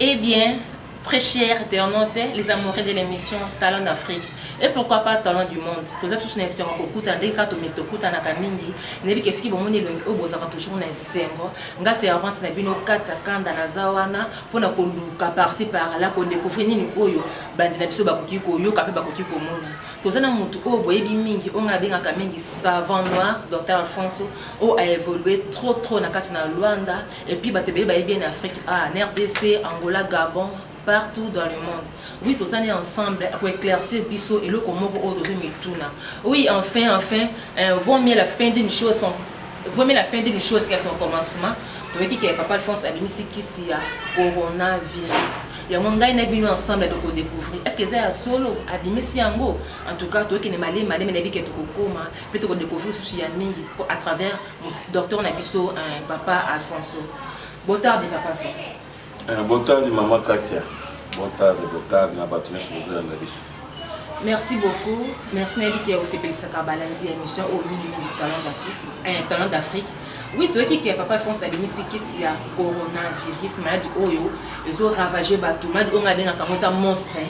Eh bien, très chers internautes, les amoureux de l'émission Talent d'Afrique, et pourquoi pas Talent du Monde, tous les sous n'insengo kokuta ndenge kato mito kuta na kamindi, nebi keski bomoni longi obozaka toujours na insengo, nga se avance na bino kati ya kanda na zawana, pona koluka par ci par là ko decouvrir nini oyo bandi na biso bakoki koyoka pe bakoki komona toza na mutu oyo boyebi mingi oyo ngai nabengaka mingi savant noir docteur alfonso oyo a évolué trop trop na kati na luanda et puis bato ebele bayebi ye na afrique a na rdc angola gabon partout dans le monde oui toza ne ensemble ako éclaircir biso eloko moko oyo tozo mituna oui enfin enfin euh, vaut mieux la fin d'une chose sont Vraiment la fin d'une chose qu'à son commencement toyoki ke papa Alphonse abimisi kisi ya coronavirus yango ngai na bino ensemble tokodécouvrir est ce que eza ya solo abimisi yango en tout cas toyokende malemi malemi nayebi ke tokokoma mpe tokodécouvrir susu ya mingi mpo à travers docteur na biso papa alfonso botarde papa alfonso Eh, botadi mama Katia. Botadi, botadi na bato nyonso bozoyanda biso. Merci beaucoup. Merci nayebi ke osepelisaka balandi ya émission oyo mingi mingi talent d'Afrique. Eh, talent d'Afrique. Oui, toyeki ke papa France abimisi kisi ya coronavirus, maladi oyo ezo ravager bato, maladi oyo ngai abengaka yango eza monstre.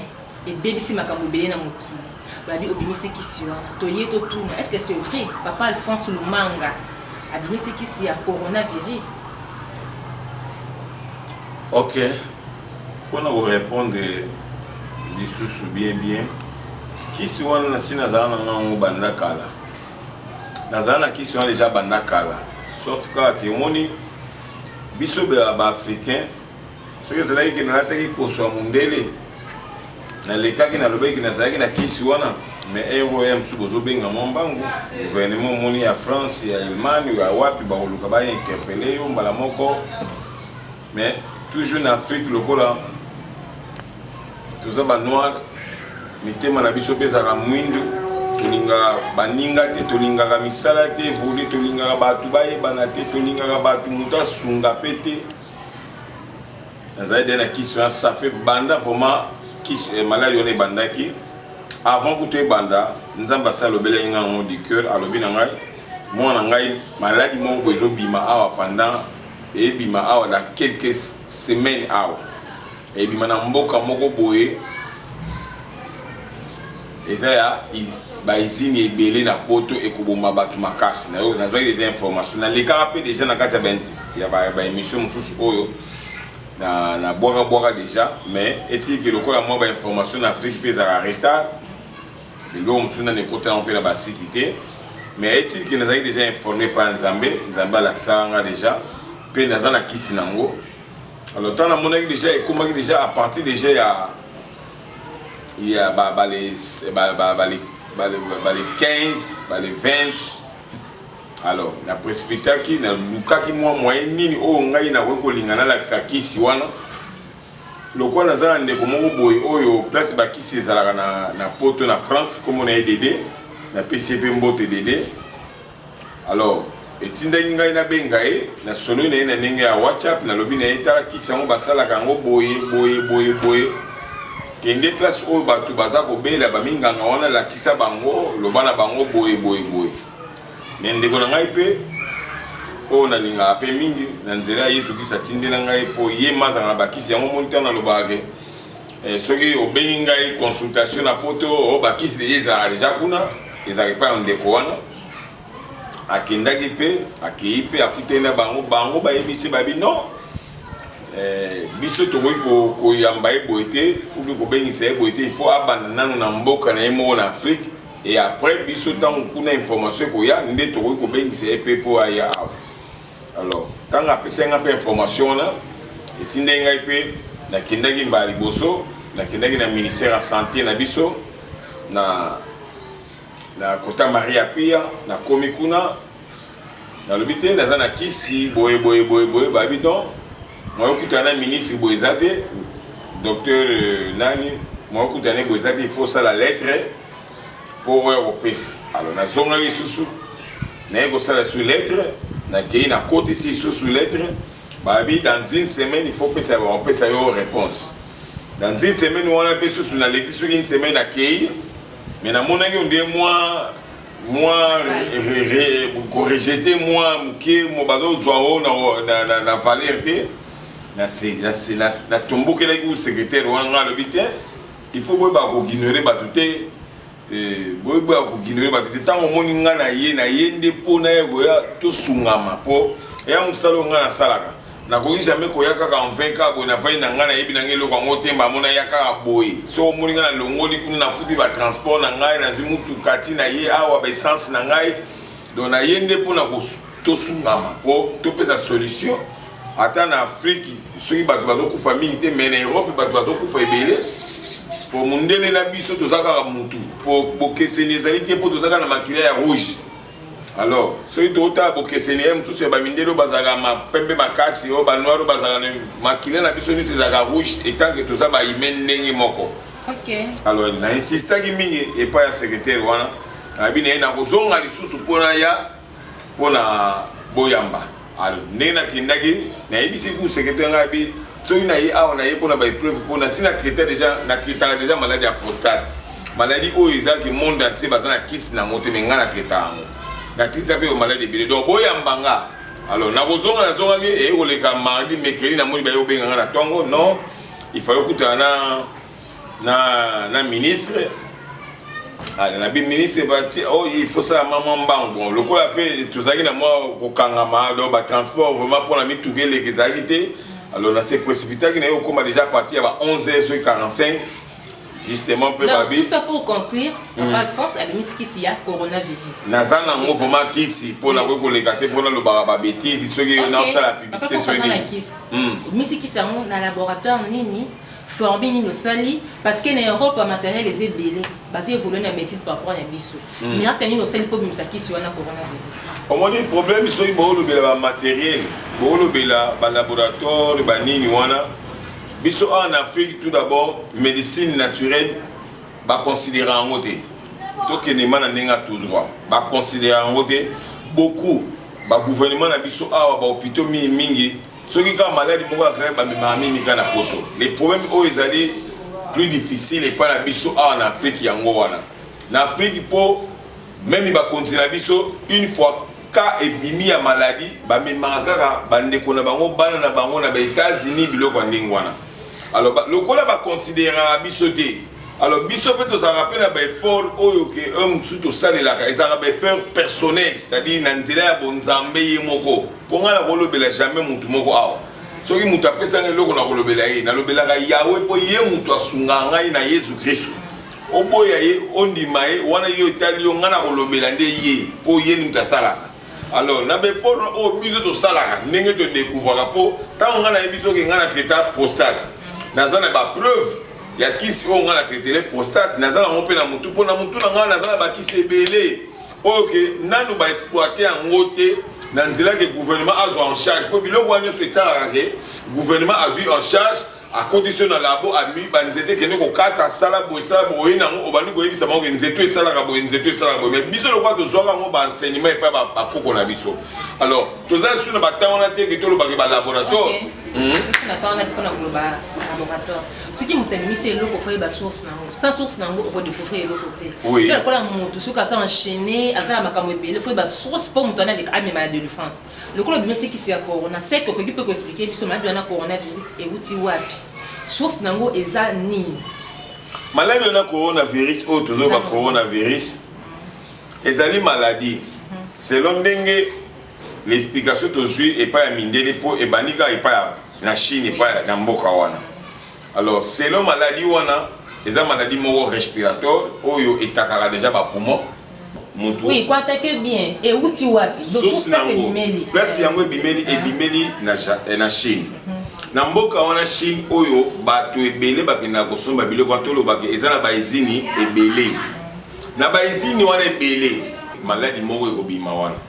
ebebisi makambo ebele na mokili babi obimisi kisi wana toye totuna est ce que c'est vrai papa alphonse lumanga abimisi kisi ya coronavirus ok mpona korepondre lisusu bien bien kisi wana nasi nazala na ngango banda kala nazala na kisi wana deja banda kala sauf kaka kemoni biso baafricain soki ezalaki ke nalataki poso ya mondele nalekaki nalobaki nazalaki na kisi wana mais heure oyo ya mosusu bozobenga mwa mbangu gouvernement omoni ya france ya allemagne ya wapi bakoluka bainterpele yo mbala moko mais toujours na afrique lokola toza banoir mitema na biso mpe ezalaka mwindu tolingaka baninga te tolingaka misala te evoli tolingaka bato bayebana te tolingaka bato moto asunga mpe te nazali de na kisi wana safe banda vraiment kisi eh, maladi wana ebandaki avant kutu ebanda nzambe asi alobelaki ngai yango du cœur alobi na ngai mwana ngai maladi moko boye ezobima awa pendant ebima awa na quelques semaines awa Ebima na mboka moko boye eza ya ba izini ebele na poto ekoboma bato makasi na yo nazwaki deja information nalekaka mpe deja na kati ya baémission mosusu oyo na, na bwaka bwaka deja mais etiki lokola mwa ba information na afrique mpe ezalaka retard biloko mosusu nani ekota yango mpe na basiti te mais etiki nazalaki deja informe mpa ya nzambe nzambe alakisaka nga deja mpe naza na kisi na yango alors ntango namonaki deja ekomaki deja à partir deja ya ya ba, ba les, ba, ba, ba, les, ba, les, ba les 15 ba les 20 alors na précipitaki nalukaki mwa moyen nini oyo ngai nakoki kolinga nalakisa kisi wana lokola naza na ndeko moko boye oyo place bakisi ezalaka na, na poto na france komona ye dede napesi ye mpe mbote dede Alors, etindaki ngai nabenga ye nasololi na ye na ndenge ya whatsapp nalobi na ye tala kisi yango basalaka yango boye boye boye boye kende place oyo bato baza kobela baminganga wana lakisa bango loba na bango boye boye boye me ndeko na ngai mpe oyo nalingaka mpe mingi na nzela ya yesu kristo atindela ngai mpo ye mazanga na bakisi yango moni ntango nalobaka ke Eh, soki obengi ngai consultation na poto oh, bakisi deja ezalaka deja kuna ezalaka epai ya ndeko wana akendaki mpe akei mpe akutani na bango bango bayebisi babi non eh, biso tokoki koyamba ye boye te obi kobengisa ye boye te ifo abanda nano na mboka na ye moko na afrike e après biso ntango kuna information ekoya nde tokoki kobengisa ye mpe mpo aya awa alors ntango apesaki ngai mpe information wana etindaki ngai mpe nakendaki mbala liboso nakendaki na ministère ya santé na biso na na kota maria pia nakomi kuna nalobi te naza na kisi boye boye boye boye babi don mwayokutana na ministre boye eza te docteur euh, nani mwayokutana boye eza te il faut osala lettre mpo oya kopesa alors nazongaki lisusu naye kosala lisusu lettre nakei nakotisi lisusu lettre babi dans une semaine il faut pesa bakopesa yo réponse dans une semaine wana mpe susu naleki soki une semaine akei mais namonaki ondie mwa mwa korejete mwa moke bazozwa o na valeur te natombokelaki secrétaire wana alobi te il faut boyeba koignore bato te eh, boyeba koignore bato te ntango omoni ngai na ye na ye nde mpo na ye koya tosungama mpo eya mosala oyo ngai nasalaka nakoki jamai koya kaka en 20 ka boye nafai na ngai nayebi na ngai eloko yango te mba mona ya kaka boye so omoni ngai nalongoli kuna nafuti batransport na ngai nazwi motuka ti na ye awa baessence na ngai don na ye nde mpo na kosu Tosungama po topesa solution ata na Afrique soki bato bazokufa mingi te mais na Europe bato bazokufa ebele po mundele na biso toza kaka mutu po bokeseni ezali te po toza kaka na makila ya rouge alors soki totala bokeseni ye mosusu ya bamindele oyo bazalaka mapembe makasi oyo banoir oyo bazalaka na makila na biso nyonso ezalaka rouge etanke toza baime ndenge moko alors na insistaki mingi epai ya secretaire wana abi na ye nakozonga lisusu mpona ya mpo na boyamba alo ndenge nakendaki nayebisi ku sekretere ngai bi soki naye awa naye mpo na baepreuve mpo nasi na traita deja na traitaka deja maladi ya prostate maladi oyo ezalaki monde entier baza na kisi nango te me ngai na traita yango na traita mpe bamaladi ebele donc boyamba nga alors nakozonga nazongaki eye koleka mardi mercredi namoni baye obenga nga na ntongo non ifale okutana na na na ministre ah, na bi ministre bati o oh, il faut sala mama mbango lokola mpe tozalaki na mwa kokangama donc batransport vraiment mpo na mituka eleki ezalaki te alors na se précipitaki na ye okóma déjà à partir ya ba 11 heures soki 45 justement mpe babi tout ça pour conclure hmm. alphonse abimisi kisi ya coronavirus naza nango vraiment kisi mpo nakoki koleka te mpo nalobaka babetise soki nasala publicité soki nini obimisi kisi yango na laboratoire nini Former nini osali parce que na Europe ba materiel eza ebele bazo evoluer na medecine par rapport na biso miracle nini osali mpo obimisa kisi wana coronavirus omoni problème soki boolobela ba materiel boolobela ba laboratoire ba nini wana biso awa na Afrique tout d'abord médecine naturelle ba considérer yango te tokende ma na ndenge ya tout droit ba considérer yango te beaucoup ba gouvernement na biso awa ba hôpitaux mingi mingi soki kaka maladi moko ya grave bamemaka mimi kaka na poto le problème oyo ezali plus difficile epai na biso awa na afrike yango wana na afrike mpo meme bakonzi na biso une fois ka ebimi ya maladi bamemaka kaka bandeko na bango bana na bango na baetats-unis biloko ya ndenge wana alors ba, lokola baconsideraka biso te alors biso mpe tozalaka mpe na baeffort oyo ke oyo mosusu tosalelaka ezalaka baeffort personnel c'est-à-dire na nzela ya bonzambe ye moko Mpo ngai nakolobela jamais moto moko awa. Soki moto apesa ngai eloko nakolobela ye, nalobelaka Yawe mpo ye moto asungaka ngai na Yesu Kristo. Oboya ye, ondima ye, wana yo etali yo, ngai nakolobela nde ye mpo ye nde moto asalaka. Alors na beforme oyo biso tosalaka ndenge todekouvraka mpo ntango ngai nayebi soki ngai na traita prostate naza na bapreuve ya kisi oyo ngai na traitele prostate naza nango mpe na motu mpo na motu na ngai naza na bakisi ebele oyo ke nanu ba exploite yango te na nzela ke gouvernement azwa en charge mpo biloko wana nyonso etalaka ke gouvernement azwi en charge akotisi yo na labo ami banzete ekende kokata sala boye sala boye nango obandi koyebisa bango ke nzete oyo esalaka boye nzete oyo esalaka boye mais biso lokola tozwaka yango baenseignement epai bakoko na biso alors toza lisusu na batango wana te ke tolobake balaboratoire soki moto abimisi eloko fo yeba source nango sans source nango okodecouvrir eloko te eza lokola moto soki aza enchaîne aza na makambo ebele fo yeba source mpo moto wana aleka amema ya delivrance lokola obimisi kisi ya corona sek okoki mpe koexplike biso maladi wana coronavirus euti wapi source nango eza nini maladi wana coronavirus oyo tozoba coronavirus ezali maladi mhm. selon ndenge l'explication tozwi epai ya mindele mpo ebandi kaka epai ya na chine epai na mboka wana alors selon maladie wana eza maladie moko respiratoire oyo etakaka deja bapoumon mutu oui, ko attaquer bien euti wapi source nango place yango ebimeli ah. ebimeli na, eh, na chine mhm. na mboka wana chine oyo bato ebele bakendaka kosomba biloko wana tolobaka eza na baizini ebele na baizini wana ebele maladi moko ekobima wana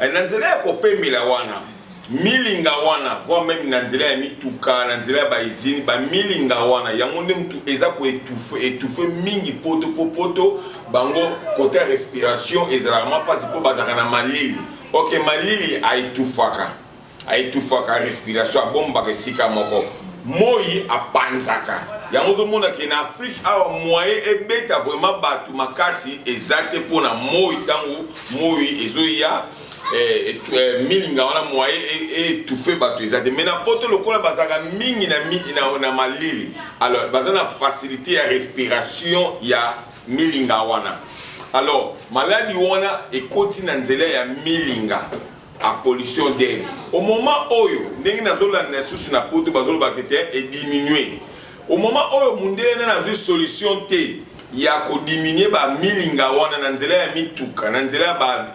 Eh, na nzela ya kopemela wana milinga wana voire meme na nzela ya mituka na nzela ya baizini bamilinga wana yango nde motu eza koetufe etufe mingi poto po poto bango kote ya respiration ezalaka mwa mpasi mpo bazalaka na malili oke malili aetufaka aetufaka respiration abombaka esika moko moi apanzaka yango ozomona ke na afrike awa moyen ebeta vraiment bato makasi eza te mpo na moi ntango moi ezoya eh, eh, milinga wana moyen etufe e, bato eza te mai na poto lokola bazalaka mingi na, na, na malili alors baza na facilité ya respiration ya milinga wana alors maladi wana ekoti na nzela ya milinga A pollution d'air au moment oyo ndenge nazolanda lisusu na poto bazolobaka ete ediminue au moment oyo mundele nani azwi solution te ya kodiminue bamilinga wana na nzela ya mituka na nzela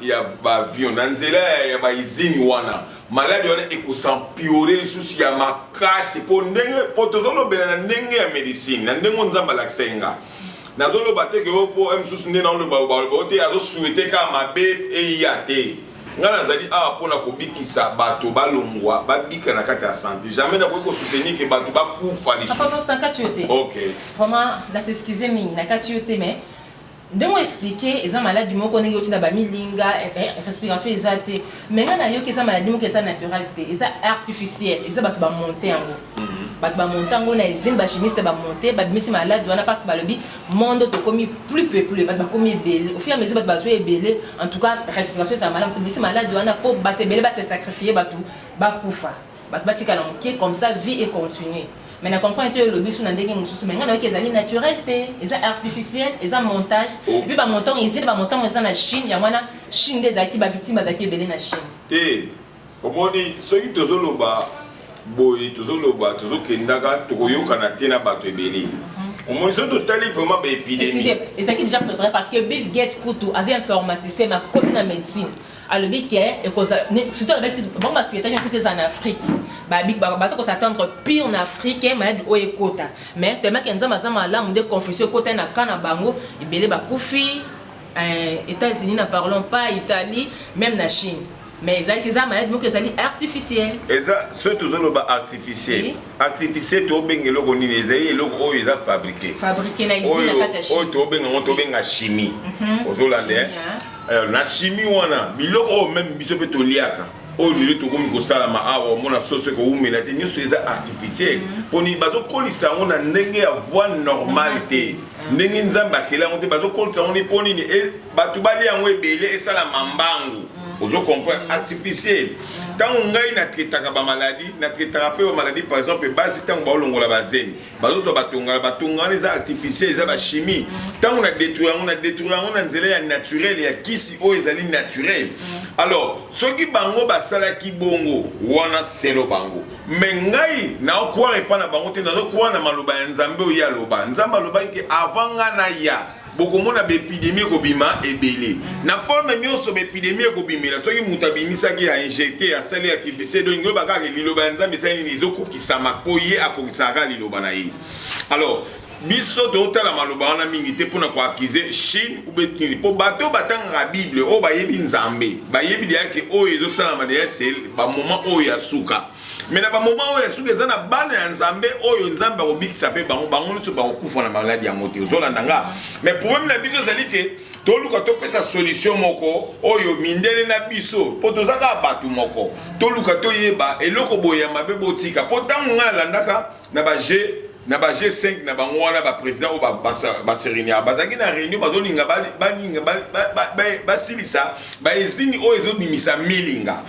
ya baavion na nzela ya baizini wana maladi wana ekosampiore lisusu ya makasi mpo ndenge mpo tozolobela na ndenge ya medicine na ndenge oyo nzambe alakisa ye nga nazoloba te ke oyo mpo mosusu nde naoloba ote azosuete kaka mabe eya te ngai nazali awa mpo na kobikisa bato balongwa babika na kati ya sante jamais nakoki kosoutenir ke bato bakufa lisusu na kati yo te ok vraiment na s'excuse mingi na kati yo te mais ndenge oexplike eza maladi moko ndenge otina bamilinga eh, eh, respiration eza te mais ngai nayoki eza maladi moko eza naturel te eza artificiel eza bato bamonte yango mhm. bato bamonte yango na ezini bachimiste bamonte babimisi maladi wana parce que balobi monde tokomi plus peuple bato bakomi ebele au fur et à mesure bato bazwi ebele en tout cas respiration ezala malamu tobisi maladi wana mpo bato ebele base sacrifie bato bakufa bato batikala moke comme ça vie et continue mais na comprendre te olobi so na ndenge mosusu mais ngai nayoki ezali naturel te eza artificiel eza montage oh. epuis bamontant ezili bamontant eza na chine yango wana chine nde ezalaki bavictime bazalaki ebele na chine te Omoni soki tozo loba boye tozo loba tozo kendaka toko yokana te na bato ebele. Omoni soki totali vraiment ba epidemie. Excusez, ezaki déjà prepare parce que Bill Gates kutu aza informaticien ma koti na medicine. Alobi ke ekozala surtout alobaki bango ba suetaki kutu eza na Afrique. Ba big ba baza ko s'attendre pire na Afrique malade oyo ekota. Mais tellement que Nzambe aza malamu nde confusion ekota na cas na bango ebele ba kufi. Euh, États-Unis na parlons pas, Italie, même na Chine. Mais ezalaki eza malade moko ezali artificiel. Eza soki tozoloba artificiel. Oui. Artificiel tobenga eloko nini ezali eloko oyo eza fabriqué. Fabriqué na izini na kati ya chimie. Oyo tobenga yango tobenga chimie. Mm -hmm. Ozolanda. Eh? Alors na chimie wana biloko oyo meme biso mpe toliaka oyo lelo tokomi kosalama awa omona soso ekowumela te nyonso eza artificiel mpo nini bazokolisa yango na ndenge ya voie normale te ndenge nzambe akela yango te bazokolisa yango ni mpo nini bato balia yango ebele esalama mbangu mm. ozo comprendre mm. artificiel ntango mm. ngai natretaka bamaladi natretaka mpe bamaladi par exemple basi ntango baolongola bazemi bazozwa batongala batonga wana eza artificiel eza bachimie ntango na detruire yango na detruire yango na nzela ya naturel ya kisi oyo ezali naturel alors soki bango basalaki bongo wana selo bango me ngai naokware epai na bango te nazokware na maloba ya nzambe oyo ye aloba nzambe alobaki te avant ngai naya bokomona baepidemi ekobima ebele na forme nyonso baepidemi ekobimela soki moto abimisaki ya injecte ya sali artificiel donc yoba kaka liloba ya nzambe esali nini ezokokisama mpo ye akokisaka kaka liloba na ye alors biso totala maloba wana mingi te mpona koakize chine ubetini mpo bato batangaka bible oyo bayebi nzambe bayebi deya ke oyo ezosalama deya se bamoment oyo ya suka me na bamoma oyo ya suka eza na bana ya nzambe oyo nzambe akobikisa mpe bango bango nyonso bakokufa na maladi yango te ozolanda nga me probleme na biso ezali te toluka topesa solution moko oyo mindele na biso mpo toza kaka bato moko toluka toyeba eloko boye ya mabe botika mpo ntango ngai nalandaka na ba G na ba G5 na bango wana ba président oyo baserenia bazalaki na réunion bazolinga baninga basilisa baezini oyo ezobimisa milinga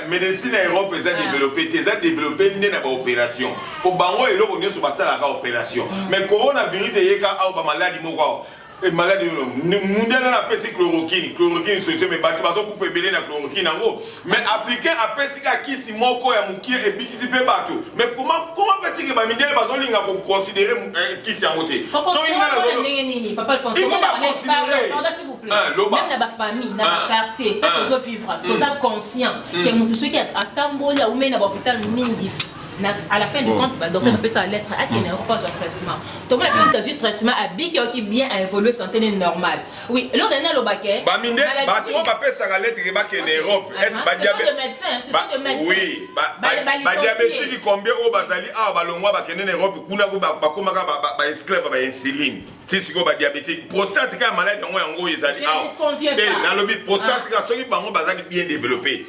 médecine ya europe eza ah. développe te eza développe nde na baopération mpo bango eloko nyonso basalaka opération mm. mais coronavirus eyeka awa bamaladi moko awa Et malade yo mundial na pesi chloroquine chloroquine solution mais bato bazo kufa ebele na chloroquine yango mais africain apesi ka kisi moko ya mukie ebikisi pe bato mais comment comment fait que ba mindial bazo linga ko considérer eh, kisi yango te so inga na zo ndenge nini papa Alphonse il faut ba considérer pardon s'il vous plaît ah, même na ba famille na ba ah, quartier ah. tozo vivre toza mm. conscient mm. que mutu soki atamboli au mena ba hôpital mingi na à la fin du compte ba docteur bapesa mm. lettre akende mm. aéroport azwa traitement toma epe moto azwi traitement abiki aoki bien aévolue santé ne normal oui eloko nani alobake baminde bato oyo bapesaka lettre ke bakende europe badiabetiki combien oyo bazali awa balongwa bakende na europe kuna bakomaka baesclave ba insuline ti sikoyo badiabetike prostate kaka maladi yango yango ezali awa eh, nalobi prostate kaka soki bango bazali bien développe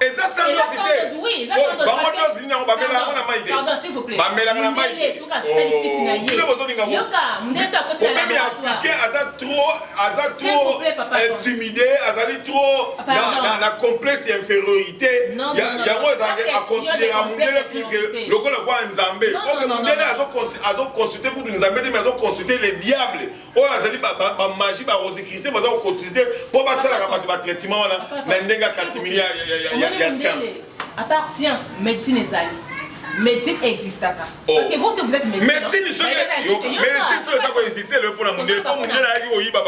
eza sandozi te bango dozi nini yango bamela yango na mai te bamelaka na mai te bino bozolinga problème ya africain aza trop aza trop intimidé azali trop na complexe ya infériorité yango ezalaki aconsidera mundele plus que lokola kwa nzambe oke mundele azoconsulte kutu nzambe te mais azoconsulte le diable oyo azali bamaji ba, ba, barosicristie baza kokotise te mpo basalaka bato batraitement wana na ndenge ya katimili ya science à part science médecine ezali médecine existaka oh. parce que vous aussi vous êtes médecin médecine soki médecine soki eza koexiste lelo mpona mondele mpo mondele ayaki koyiba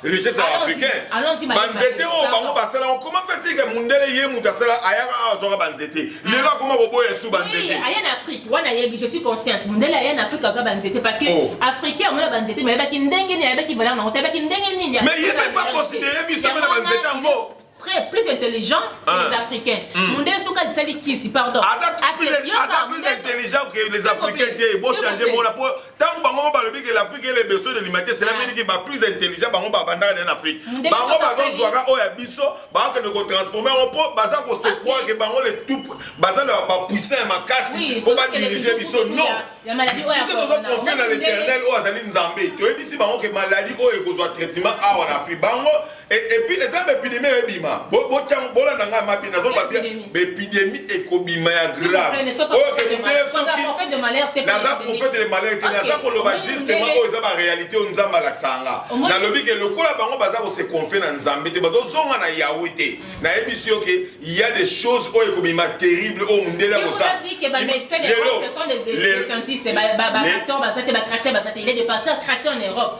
richesse ya africain banzete oyo bango basalaka comment fait que mondele ye moto asala ayaka awa azwaka banzete lelo akoma koboya su banzete aya na afrique wana ayebi je suis consciente mundele aya na afrique azwa banzete parce que oh. africain amona banzete mais ayebaki ndenge nini ayebaki valeur nango te ayebaki ndenge nini mais ye mpe aconsidere biso mpe na banzete yango très plus intelligent que ah. les africains hmm. mundele soki alisali kisi pardon aza plus intelligent que les africains te bochanger mona po tango bango mo balobi ke l'afrique ele besoin de l'humanité cela veut dire ke ba plus intelligent bango babandaka na afrique bango bazozwaka oyo ya biso bakokende kotransforme yango mpo baza kosekwaa ke bango le tout baza na bapuissant ya makasi mpo badirige biso non biso toza confie na l'éternel oyo azali nzambe toyebisi bango ke maladi oyo ekozwa traitement awa na afrique bango Et, et puis eza bepidemi oyo ebima botyango bolanda ngai mabi nazoloba bia bepidemi ekobima ya grave oyo kemundele soki naza prophète de malheur te naza koloba justement oyo eza baréalité oyo nzambe alakisaka nga nalobi ke lokola bango baza kose confie na nzambe te bazozonga na yawe te nayebisi yo ke ya des choses oyo ekobima terrible oyo mundele akosala lelo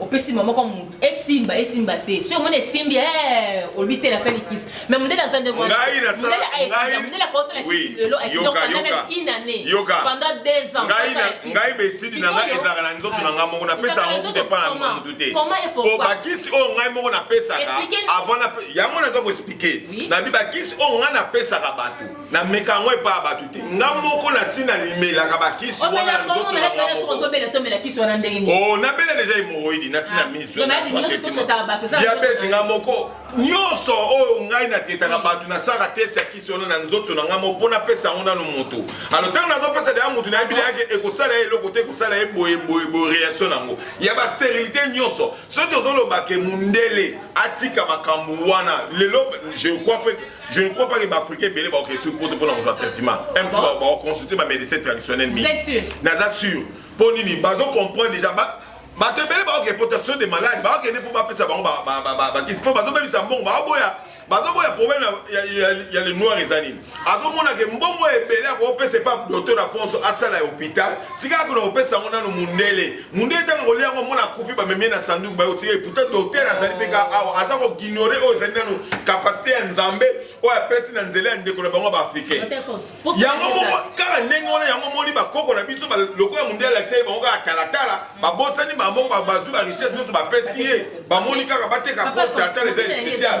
opesi mama kwa mutu esimba esimba te soki omoni esimbi eh, olobi te nasali kisi me mondele aza ndenge wanamondele akosala kisi lelo pendant deux ans ngai betidi na ngai ezalaka na nzoto na ngai moko napesa yango kutu epa na mutu te po bakisi oyo ngai moko napesaka avant yango naza koexplike nabi bakisi oyo ngai napesaka bato na meka yango epa bato te nga moko nasi na limelaka bakisi oh, nabela deja hemoroidi nasi na ah, misiodiabete nga moko nyonso oyo ngai natetaka bato nasaka test ya kisi wana na nzoto na ngai moko mpo napesa yango nano moto alo ntango nazopesa deya moto nayebi deya ke ekosala ye eloko te ekosala ye boye boye boye reaction na yango ya basterilité nyonso soki tozoloba ke mondele atika makambo wana lelo je crois pe Je ne crois pas que l'Africain belé va sur pour pour nos traitement. Même si on va consulter ma médecin traditionnel mi. Vous êtes sûr Naza sûr. Pour nini bazo comprendre déjà ba ba te belé va reputation des malades, ba que ne pour pas ça ba ba ba ba ba qui se peut bazo même ça bon ba boya. Bazo boya problème ya ya ya les noirs et anines. Azo mona que mbongo ebele ko pesa pas docteur Afonso asala hôpital. Tika ko na pesa ngona no mundele. munde ntango kolia yango mona akufi bamemie na sanduku baye otie pourtant docteur azali mpe ka awa aza kogignore oyo ezali nano kapasite ya nzambe oyo apesi na nzela ya ndeko na bango baafricain yango moko kaka ndenge wana yango moni bakoko na biso lokola munde alakisa ye bango kaka talatala babosani bango bazwi barichesse nyonso bapesi ye bamoni kaka bateka po talatala eza especiale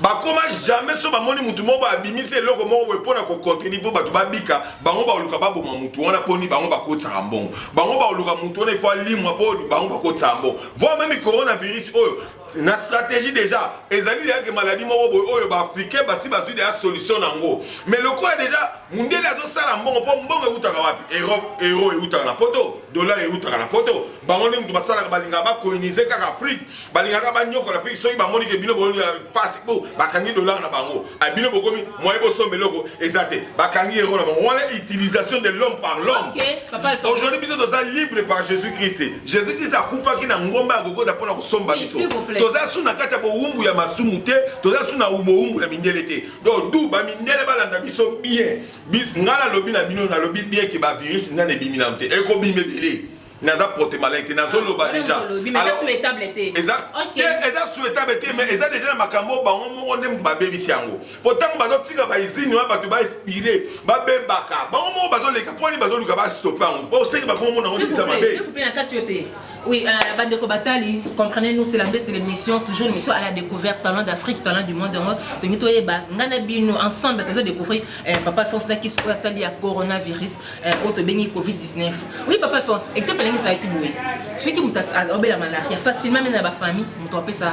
bakoma jamais so bamoni mutu moko abimisi eloko moko boye mpo na kocontribue mpo bato babika bango baoluka baboma mutu wana mponi bango bakotisaka mbongo bango baoluka mutu wana ifo alimwa mpo bango bakotisaka mbongo voi meme coronavirus oyo na stratégie déjà ezali deja ke maladie moko boye oyo baafricain basi bazwi deja solution na yango mais lokola deja mundele azosala mbongo mpo mbongo eutaka wapi europe euro eutaka na poto dollar eutaka na poto bango nde moto basalaka balingaka bakolonize kaka afrique balingaka banyokola mpe soki bamoni ke bino boyoka mpasi po bakangi dollar na bango a bino bokomi moye bosomba eloko eza te bakangi yango na bango wana utilisation de l'homme par l'homme aujourd'hui biso toza libre par jésus christ jésus christ akufaki na ngomba ya kokoda mpo na kosomba biso toza su na kati ya bowumbu ya masumu te toza su na bowumbu ya mindele te donc du bamindele balanda biso bien ngai nalobi na bino nalobi bien ke bavirus nani ebimi nano te ekobima ebele naza porte malin te nazoloba ah, deja eza souhaitable te mais eza deja na makambo bango moko nde babebisi yango mpo ntango bazotika baizini wana bato bainspire babebaka bango moko bazoleka mpo nini bazoluka bastope yango mpo seke bakomomona yango ndikisa mabe Oui, euh, Badeko Batali, comprenez-nous, c'est la baisse de l'émission, toujours une émission à la découverte, talent d'Afrique, talent du monde, donc, Tengito Eba, Nganabino, ensemble, toujours découvrir, euh, Papa Fonse Nakis, Sali, à coronavirus, Eh, oyo tobengi covid-19 oui papa alphonse exemple ndenge ezalaki boye soki moto obela malaria facilement mene na bafamille moto apesa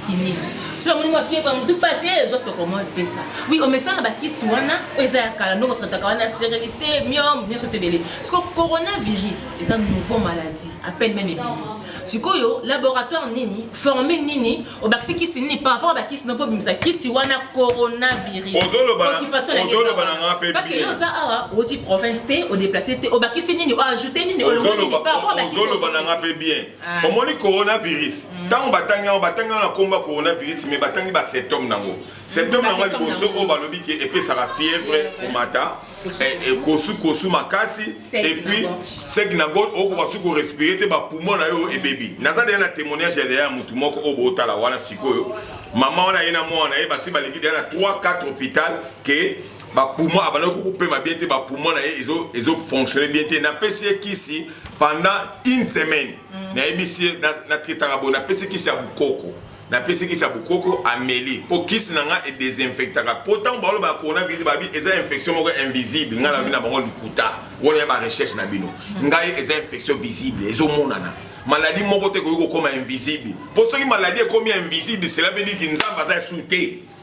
kini soki amoni mwa fievre motu pasi ezwa sokomo epesa oui omesana bakisi wana oyo eza ya kala ndongo trataka wana sterilité miome nyonso tebele siko coronavirus eza nouveau maladie à peine meme ebimi sikoyo laboratoire nini forme nini obakisi kisi nini par rapport ba kisi noko bimisa kisi wana coronavirus ozoloba na nga pe parce que yo oza awa oti province te o déplacer te obakisi nini o ajouter nini ozoloba ozoloba na nga pe bien ah. omoni coronavirus mm. tango batangi yango batangi yango na komba coronavirus mais batangi ba symptôme nango symptôme nango liboso oyo balobi ke epesaka fièvre komata ekosu kosu makasi epuis seki na ngo okoka soki korespire te bapumo na yo ebebi naza deya na témoignage ya deya ya motu moko oyo bootala wana sikoyo mama wana ye na mwana ye basi baleki deya na 3 4 hôpital ke bapumo abandaki kokopema bien te bapumo na ye ezofonctionne bien te napesi ye kisi pendant une semaine mm. nayebisi ye natraitaka boye napesi kisi ya bokoko Napesi kisi ya bokoko ameli mpo kisi na nga e desinfectaka mpo ntango balobaka coronavirus babi eza infection moko invisible ngai nalobi na bango lokuta wana ya ba recherche na bino ngai eza infection visible ezomonana maladi moko te ekoki kokoma invisible mpo soki maladi ekomi invisible cela veut dire que nzambe aza sous te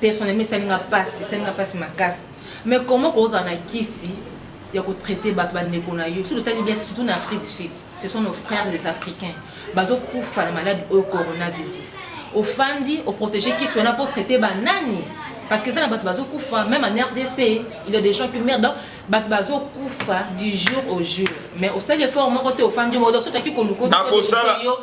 personnellement esali nga pasi esali nga pasi makasi mais comment kozala na kisi ya kotraite bato bandeko na yo soki otali bien surtout na afrique du sud ce sont nos frères les africains bazokufa na malade oyo coronavirus ofandi oprotege kisi wana mpo traite banani parce que eza na bato bazokufa même en rdc il y a des gens qui meurent donc bato bazokufa du jour au jour mais osali effort moko te ofandi odo soki toki koluka yo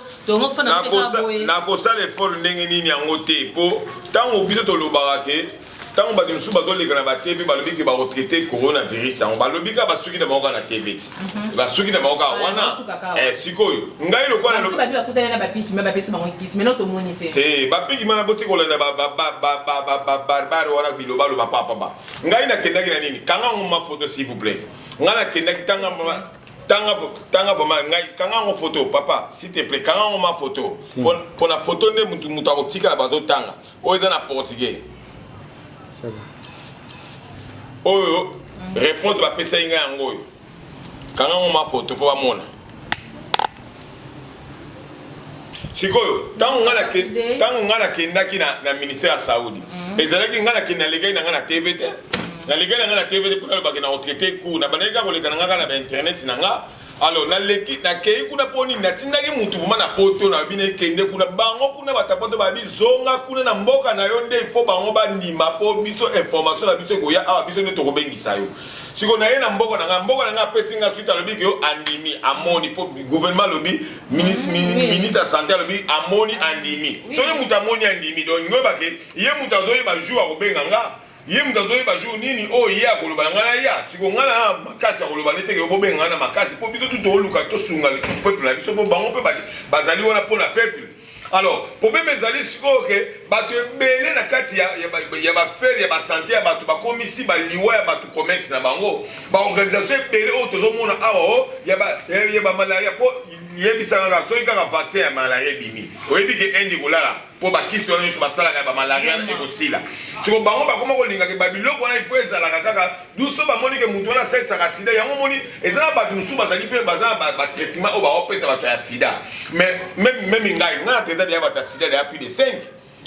nakosala efort ndenge nini yango te mpo ntango biso tolobaka ke ntango bato mosusu bazoleka na batv balobi ke bakotraite coronavirus yango balobi kaka basuki na bango kaka na tv ti mhm. basuki na bango kaka ah, wana eh, sikoyo ngai lokola te bapiki mana boti kolanda babarbare wana bilobaloba papaba ngai nakendaki na nini kanga yango mafoto s'il vous plaît ngai nakendaki tanga tanga tanga vraiment ngai kanga yango photo papa s'il te plaît kanga yango ma photo mpo na photo nde motu motu akotikala bazotanga oyo eza na portugais oyo mm. réponse bapesaki ngai yango oyo kanga yango ma photo mpo bamona sikoyo ntango ngai nakendaki na ministère ya saudi mhm. ezalaki ngai nakende nalekaki na ngai na tv te mhm. nalekaki na ngai na tv te mpo nalobaki na retraite cour na bandaki kaka koleka na ngai kaka na bainternet na ngai alors naleki nakei kuna mpo nini natindaki motu vraimen na poto na bino ekende kuna bango kuna batapoto babi zonga kuna na mboka na yo nde ifo bango bandima mpo biso information na biso ekoya awa biso nde tokobengisa yo siko naye na mboka na ngai mboka na ngai apesi ngai suite alobi ke andimi amoni mpo gouvernement alobi ministre ya sante alobi amoni andimi soki moto amoni andimi donc ngoyebake ye moto azoyeba jour akobenga nga ye moto azoyeba jour nini oyo ye akoloba na ngai naya siko ngai na makasi ya koloba nete yo bobenga ngai na makasi mpo biso tu tooluka tosunga peuple na biso mpo bango mpe bazali wana mpo na peuple Alors, problème ezali sikoyo ke bato ebele na kati ya, ya, ya bafere ya basante ya bato bakomisi baliwa ya bato commerce na bango baorganisation ebele oyo tozomona awa o oh, ya, ba, ya, ya bamalaria mpo yebisaka kaka soki kaka vaccin ya malaria ebimi oyebi ke ende kolala mpo bakisi wana nyonso basalaka ya bamalaria ekosila siko bango bakoma kolingaka babiloko wana ifo ezalaka kaka Duso bamoni ke moto wana asalisaka sida yango omoni eza na bato mosusu bazali mpe baza na batraitement oyo baopesa bato ya sida meme ngai ngai na traitade ya bato ya sida deya plus de 5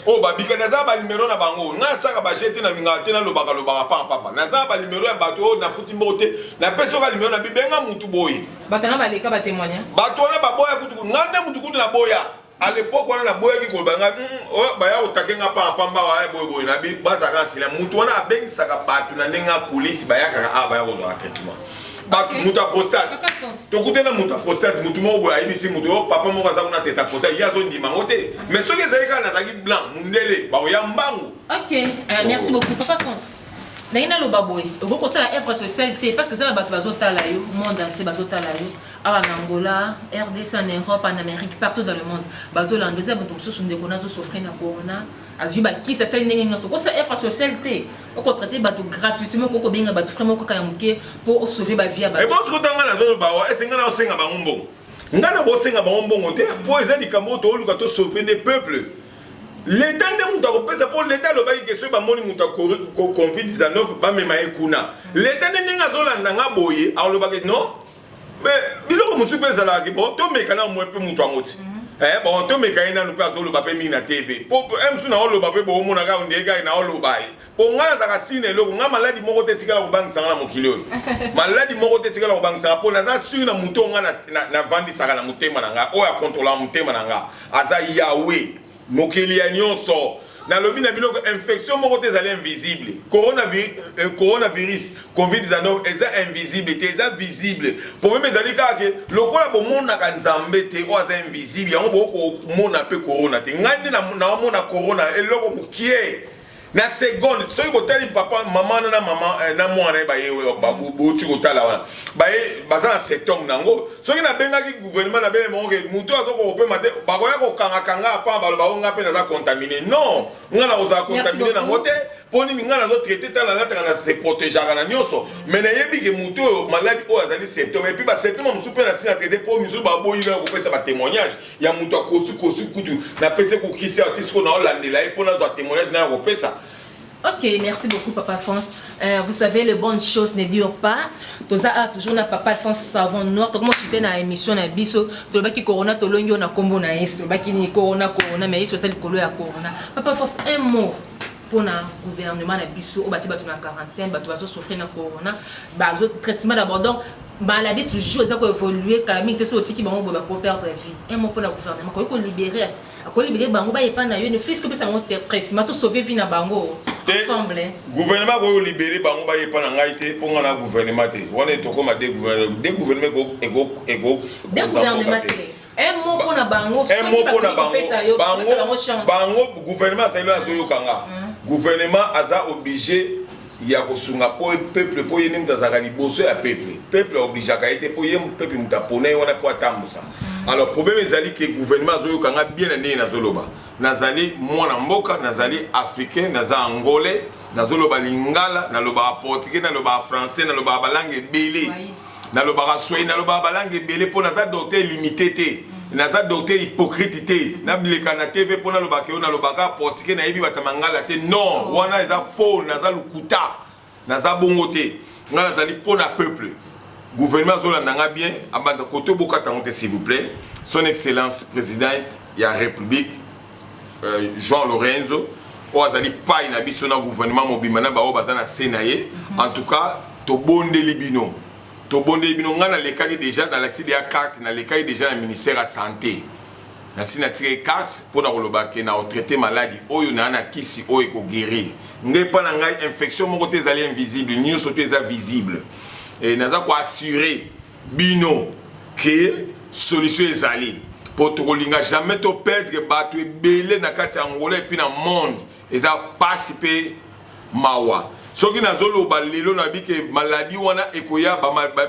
oyo babika naza na banimero na bango ngai asaka baje te nalingaka te nalobaka lobaka pamba pamba naza na banimero ya bato oyo nafuti mboko te napesi oka nimero na bibenga motu boye bato wana baleka batemoigna bato wana baboya kutu ngai nde motu kutu naboya à l'époque wana naboyaki koloba ngai hmm, oh, baya kotake nga panga pamba waye eh, boyeboye na bi bazalaka nsila motu wana abengisaka bato na ndenge akolisi bayakaka awa ah, baya kozwaka traitement bato moto aprostate tokute na moto aprostate motu moko boye ayebisi moto yo oh, papa moko aza kuna teta aprostate ye azondima yango te mais soki ezali kaka nazalaki blanc mondele bakoya mbangu ok euh, merci beaucoup papa france naye naloba boye okoki kosala œuvre sociale te parce que eza na bato bazotala yo monde entier bazotala yo awa na angola rdc en europe en amérique partout dans le monde bazolanda eza moto mosusu ndeko nazo souffrir na corona azwi bakisi asali ndenge nyonso okosa effort social te okotraite bato gratuitement okoki kobenga bato frai moko kaka ya moke mpo osauve bavie ya baebonso kotanga nazoloba wa esenga na osenga bango mbongo ngai na kosenga bango mbongo te mpo eza likambo oyo tooluka tosauve nde peuple leta nde moto akopesa mpo leta alobaki ke soki bamoni moto ya covid-19 bamema ye kuna leta nde ndenge azolanda nga boye alobaki non mais biloko mosusu mpe ezalaka ke bon tomeka na mwe mpe moto yango ti mhm. eh, bon tomeka ye nanu mpe azoloba mpe mingi na tv mpo msu naoloba mpe boomona kaka ondie kaka naoloba ye mpo ngai nazalaka sina eloko ngai maladi moko te etikala kobangisa ngai na mokili oyo maladi moko te etikala kobangisaka mpo naza sure na moto oyo ngai navandisaka na motema na ngai oyo akontrolaka motema na ngai aza yawe Mokili ya nyonso. Nalobi na bino que infection moko te ezali invisible. Coronavirus, euh, coronavirus COVID-19 eza invisible te, eza visible. Problème ezali kaka que lokola bomonaka Nzambe te oyo aza invisible, yango bokomona pe corona te. Ngai nde naomona corona eloko mokie. na seconde soki botali papa mama na mama eh, na mwana ye baye oyo bauti kotala wana baye baza na septembre na yango soki nabengaki gouvernement nabele moko ke moto aza kokopema te bakoya kokangakanga apa baloba o ngai mpe naza contamine non ngai nakozala contamine nango te mpo nini ngai nazo traite ntango nalataka na se protegeaka na nyonso mai nayebi ke moto oyo maladi oyo azali septembre epuis basymptome mosusu mpe nasi na traite mpo misusu baboyi na kopesa batémoignage ya moto akosi kosi kutu napesi kokisi ya ti sikoyo naolandela ye mpo nazwa témoignage nayo akopesa Ok, merci beaucoup Papa France. Euh, vous savez, les bonnes choses ne durent pas. Toza a toujours na Papa France savon noir. Donc moi j'étais na émission na biso, to ba ki corona to longi on a combo na yeso, ba ki ni corona corona mais yeso c'est le colo ya corona. Papa France un mot pona gouvernement na biso oyo batie bato na quarantaine bato bazo souffrir na corona bazo traitement d'abord donc maladie toujours eza koévolue kala mingi te soki otiki bango boye bako perdre vie un mot mpona gouvernement akoki kolibere akolibere bango bayepa na yo ne fiske opesa bango traitement to sauve vie na bango ensemble gouvernement akoki kolibere bango bayepa na ngai te mpo ngai na gouvernement te wana etokoma de gouvernement de gouvernement eko gouvernement te un mot mpo na bango un mot mpo na bango bango bango gouvernement azali oyo azoyoka nga gouvernement aza oblige ya kosunga mpo peuple mpo ye nde moto azalaka liboso ya peuple peuple aobligeaka ye te mpo ye peuple moto apona ye wana mpo atambusa alors problème ezali ke gouvernement azoyoka nga bien na ndenge nazoloba nazali mwana mboka nazali africain naza angolais nazoloba lingala nalobaka portugais nalobaka français nalobaka balangue ebele nalobaka swahili nalobaka balangue ebele mpo naza docteur limité te naza docteur hypocrite te naleka na tv mpo nalobaka yo nalobaka portike nayebi bata mangala te non wana eza faux naza lokuta naza bongo te ngai nazali mpo na peuple gouvernement azolanda ngai bien abanda koto bokata yango te s'il vous plaît son excellence présidente ya république euh, jean lorenzo oyo azali pai na biso na gouvernement mobimba na baoyo baza na se na ye en tout cas tobondeli bino tobondeli bino ngai nalekaki déjà nalakisi deya carte nalekaki déjà na ministère ya santé nasi natikaki carte mpo na koloba ke na otraite maladi oyo naa na kisi oyo ekoguérir ngai epa na ngai infection moko te ezali invisible nyonso te eza visible e, naza koassure bino que solution ezali po tokolinga jamais to perdre batu ebele na kati ya Angola epuis na monde eza pasi pe mawa soki nazoloba lelo nabi ke maladi wana ekoya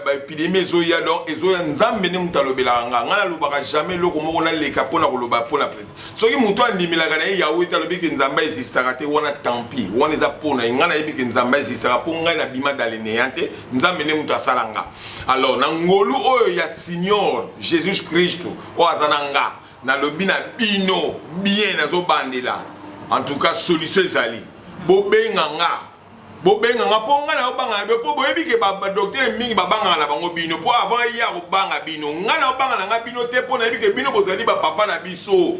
baepidemi ezoya donc ezoya nzambe nde moto alobelaka nga ngai nalobaka jamais eloko moko naleka mpo na koloba mpo na president soki moto andimelaka na ye yawe te alobi ke nzambe aexistaka te wana tampi wana eza mpo na ye ngai nayebi ke nzambe aexistaka mpo ngai nabima daleneya te nzambe nde moto asala nga alors na ngolu oyo ya signor jesus kristu oyo aza na nga nalobi na bino bien nazobandela en tout cas solution ezali bobenga nga bobenga nga mpo ngai naobanga na bino mpo boyebi ke badoktere mingi babangaka na bango bino mpo avant ye akobanga bino ngai naobanga na ngai bino te mpo nayebi ke bino bozali bapapa na biso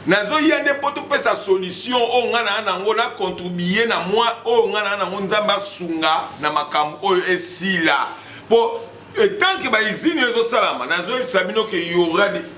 nazoya nde mpo topesa solution oyo ngai naa nango na contribue na mwa oyo ngai naa nango nzambe asunga na makambo oyo esila mpo etanke baizini oyo ezosalama nazoyebisa bino ke yora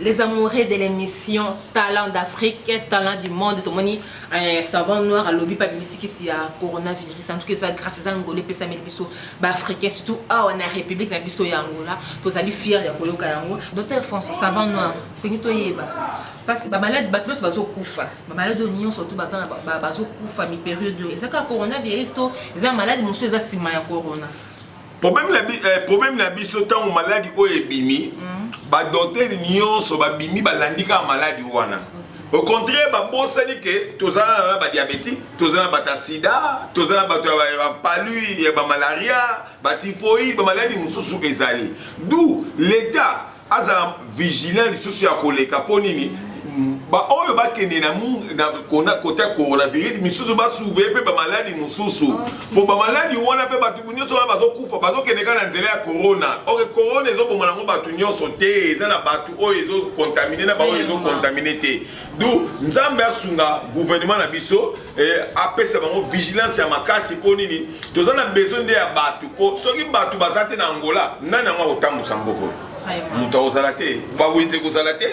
Les amoureux de l'émission Talent d'Afrique, Talent du Monde, tomoni eh, savant noir alobi pa bisikisi ya coronavirus. En tout cas, ça grâce à Angola pesa meli biso ba africains surtout awa na république na biso ya Angola, tozali fier ya koyoka yango. Docteur François savant noir, pengi to yeba. Parce que ba malade ba tous bazo kufa. Ba malade nyon surtout baza na bazo kufa mi période. Ezaka coronavirus to eza malade mususu eza sima ya corona. problème na, eh, problème na biso ntango maladi oyo ebimi mm. badoktere nyonso babimi balandi kaka maladi wana au contraire babosani ke toza na badiabétique toza na bato ya sida toza na bato ya bapalui ya bamalaria batifoïde bamaladi mosusu ezali d'où l'état azala vigilant lisusu ya koleka mpo nini baoyo bakende na kota coronavirus misusu basuve mpe bamaladi mosusu mpo bamaladi wana mpe bato nyonso wana bazokufa bazokende kaka na nzela ya corona oke corona ezoboma nango bato nyonso te eza na bato oyo ezokontamine na baoyo ezokontamine te du nzambe asunga guvernema na biso eh, apesa bango vigilance ya makasi mpo nini toza na besoin nde ya bato mpo soki bato baza te na angola nani yango akotambusa mboka oyo moto akozala te bawenze ekozala te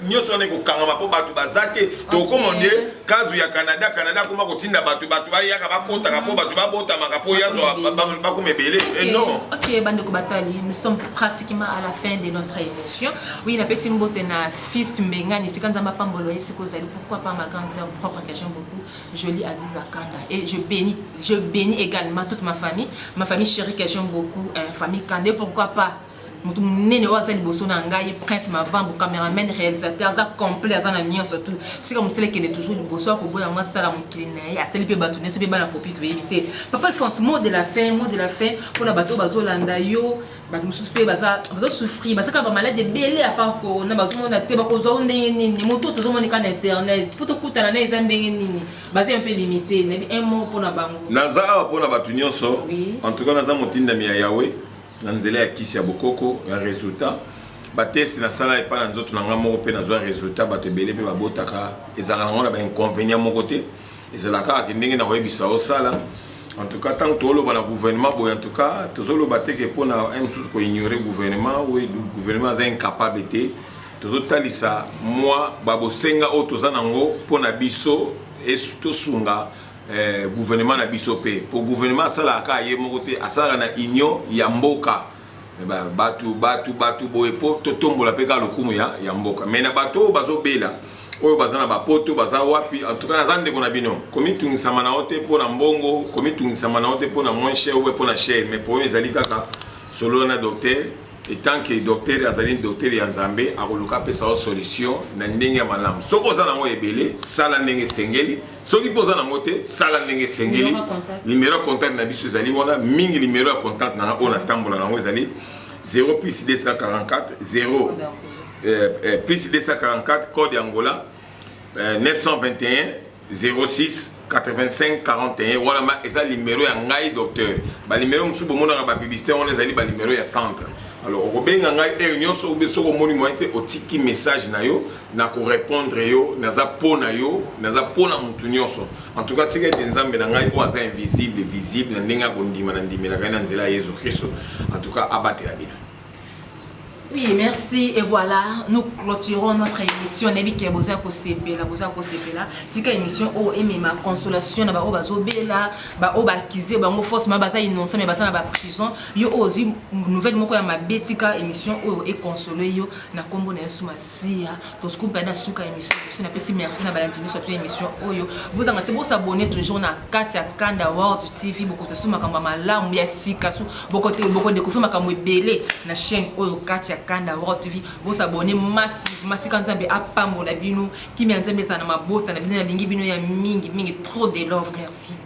nyonso wana ekokangama mpo bato baza te tokoma nde kazu ya canada canada akoma kotinda bato bato bayaka bakotaka mpo bato babotamaka mpo yazwa bakoma ebele eh, non ok bandeko batali nous sommes pratiquement à la fin de notre émission oui napesi mbote na fils mbengani esika nzambe apambolo ye sika ozali Pourquoi pas ma grande sœur propre que j'aime beaucoup, Jolie Aziza Kanda. Et je bénis, je bénis également toute ma famille, ma famille chérie que j'aime beaucoup, euh, famille Kanda. Et pourquoi pas moto monene oyo aza liboso na ngai prince mavambo cameraman réalisateur aza complet aza na nyonso tout sika mosala ekende toujours liboso ya koboya yango asala mokili na ye asali mpe bato nyonso mpe bana kopi toyebi te papa alphonse mot de la fin mot de la fin mpona bato oyo bazolanda yo bato mosusu mpe bazosouffrir baza kaka bamaladi ebele apart corona bazomona te bakozwa o ndenge nini moto oyo tozomona eka na internet mpo tokutana na eza ndenge nini baza mpe limite nayebi un mot mpo na bango naza awa mpo na bato nyonso en tout cas naza motindami ya yawe na nzela ya kisi ya bokoko ya resultat bateste nasala epai na nzoto na ngai moko mpe nazwa resultat bato ebele mpe babotaka ezalaka nango na bainconvénient moko te ezala kaka ke ndenge na koyebisa osala en tout cas ntango tozoloba na gouvernement boye en tout cas tozoloba te ke mpo na mosusu koignore gouvernement oyo gouvernement aza incapable te tozotalisa mwa babosenga oyo toza nango mpo na biso tosunga eh, gouvernement na biso mpe mpo gouvernement asalaka kaka ye moko te asalaka na union ya mboka Mais ba batu batu batu boye po to tombola pe ka lokumu ya ya mboka. Mais na bato bazo bela oyo baza na bapoto baza wapi en tout cas naza ndeko na bino komitungisama na yo te mpo na mbongo komitungisama na yo te mpo na moins cher obe mpo na cher mais problème ezali kaka solola na docteur etant que docteur azali docteur ya nzambe akoluka apesa yo solution na ndenge ya malamu soki oza nango ebele sala ndenge esengeli soki mpe oza nango te sala ndenge esengeli nimero ya contact na biso ezali wana mingi nimero ya contact nanga oyo natambola nango ezali 0 plus 244 0 eh, eh, plus 244 code ya ngola eh, 921 06 85 41 wana ma eza nimero ya ngai docteur banimero mosusu bomonaka bapiblicité wana ezali banimero ya centre alors okobenga ngai heure nyonso obe soki omoni moye te otiki message na yo na ko repondre yo naza po na yo naza po na mutu nyonso en tout cas tika ete nzambe na ngai oyo aza invisible visible na ndenge akondima na ndimelaka ye na nzela ya yesu kristo en tout cas abatela bino Oui, merci. Et voilà, nous clôturons notre émission. Nebike boza ko sepela, boza ko sepela. Tika émission o emema consolation na ba o bazo bela, ba o ba kize bango force ma baza innocent mais baza na ba prison. Yo ozi nouvelle moko ya mabe tika émission o e consoler yo. na kombo na yesu masiya tosukumpe na suka ya emission biso napesi merci na balandi nyonso ya emission oyo bozanga te bosabone toujours na kati ya kanda world tv bokotosu makambo ya malamu ya sika su bokodekouvri makambo ebele na chaîne oyo kati ya kanda world tv bosabone masi masika nzambe apambola bino kimia nzambe ezala na mabota na bino nalingi bino ya mingi mingi trop de love merci